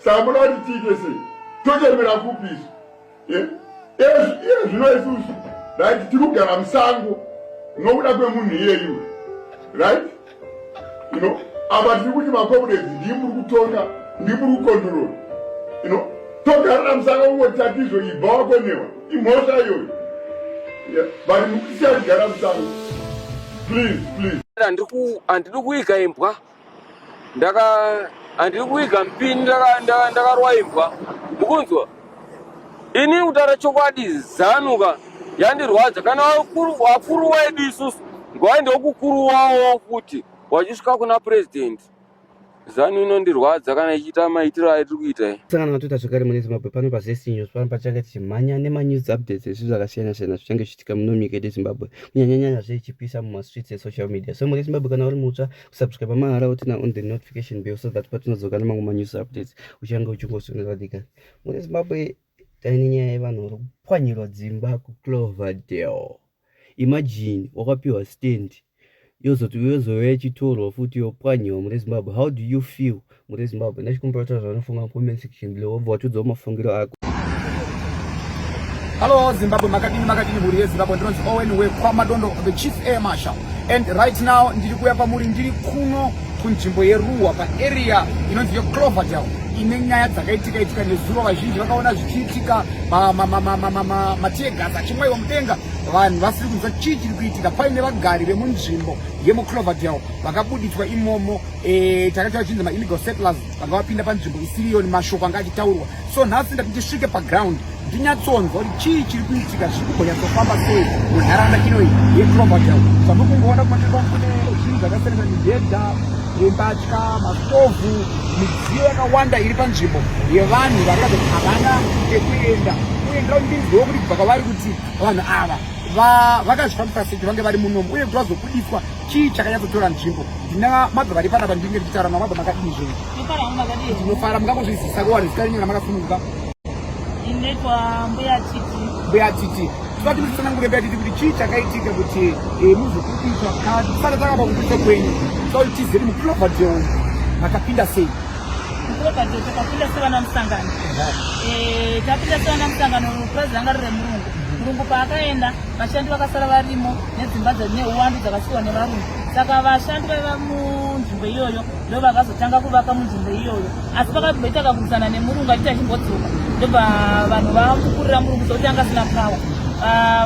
samuda kuti tiite sei tochembera kupi isu eh? iye zvino isusu right tiri kugara musango nokuda kwemunhu iyeyu right you know apa tiri kuti makomrades ndii muri kutonga ndii muri kukontrol you know togarira musango kungoti tatizvo ibva wakonewa imhosva iyoyo but mukusiya kugara musango please please handidi kuika imbwa ndaka handiri kuiga mpini ndakarwa imbwa mukunzwa ini kutaura chokwadi zanuka yandirwadza kana vakuru wedu isusu ngwaende wokukuru wawo futi wachisvika kuna purezidendi zanu inondirwadza kana ichiita maitiro aitiri kuita i sangana matoita zvekare mune zimbabwe pano pazesinyo pano pachange tichimhanya nemanews updates ezvinhu zvakasiyana siyana zvichange tsika muno munyika yedu yezimbabwe kunyanyanyanya zve ichipisa mumastreets esocial media so mhuri yezimbabwe kana uri mutsva kusubscribe mahara utina on the notification bell so that patinodzoka nemamwe manews updates uchange uchingosonera dika mhuri yezimbabwe taine nyaya yevanhu vari kupwanyirwa dzimba kucloverdale imagine wakapiwa stand yozoti yozouya ichitorwa futi yopwanyiwa mune zimbabwe how do you feel mune zimbabwe ndachikumbira kutaura zvanofunga comment section below wobva watiudzawo mafungiro ako Hello Zimbabwe makadini makadini mhuri yeZimbabwe ndinonzi Owen wekwaMadondo the chief air marshal and right now ndiri kuya kwamuri ndiri kuno kunzvimbo yeruwa paarea inonzi yecloverdale ine nyaya dzakaitika itika nezuro vazhinji vakaona zvichiitika matear gas achimwaiwa mudenga vanhu vasiri kunzwa chii chiri kuitika paine vagari vemunzvimbo yemucloverdale vakabuditswa imomo e, takaita vachinzi maillegal settlers vanga vapinda panzvimbo isiriyoni mashoko anga achitaurwa so nhasi ndati ndisvike paground ndinyatsonzwa kuti chii chiri kuitika zviri kugonyatsofamba sei munharaunda inoyi yecloverdale zvamuri kungoona kumatirwa kune zvinhu zvakasiyana nemibhedha yembatya mastovhu midziyo yakawanda iri panzvimbo yevanhu varikazoti havana ekuenda uye ndira kuti ndinzwewo kuti bva kwavari kuti vanhu ava vakazvifambisa seki vange vari munomu uye kuti vazobudiswa chii chakanyatsotora nzvimbo ndina mabva vari panapa ndinge ndichitaura namabva makadini zvinhu ndinofara mungangozvizisa kuwani zita renyu ramakasununguka mbuya titi toda kuti musanangure mbuya titi kuti chii chakaitika kuti eh, muzokudiswa kana tisati takapa kudiswa kwenyu toda kuti tizeri mukulovha jehova makapinda sei Padzo takapinda sevana musangano eh, tapinda sevana musangano purazi ranga riri remurungu murungu paakaenda vashandi vakasara varimo nedzimba neuwandu dzakasiwa nevarungu saka vashandi vaiva munzvimbo iyoyo ndo vakazotanga kuvaka munzvimbo iyoyo asi pakazomboita kakurwisana nemurungu achiti achimbodzoka ndobva vanhu vamukurira murungu sokuti anga asina pawa ah,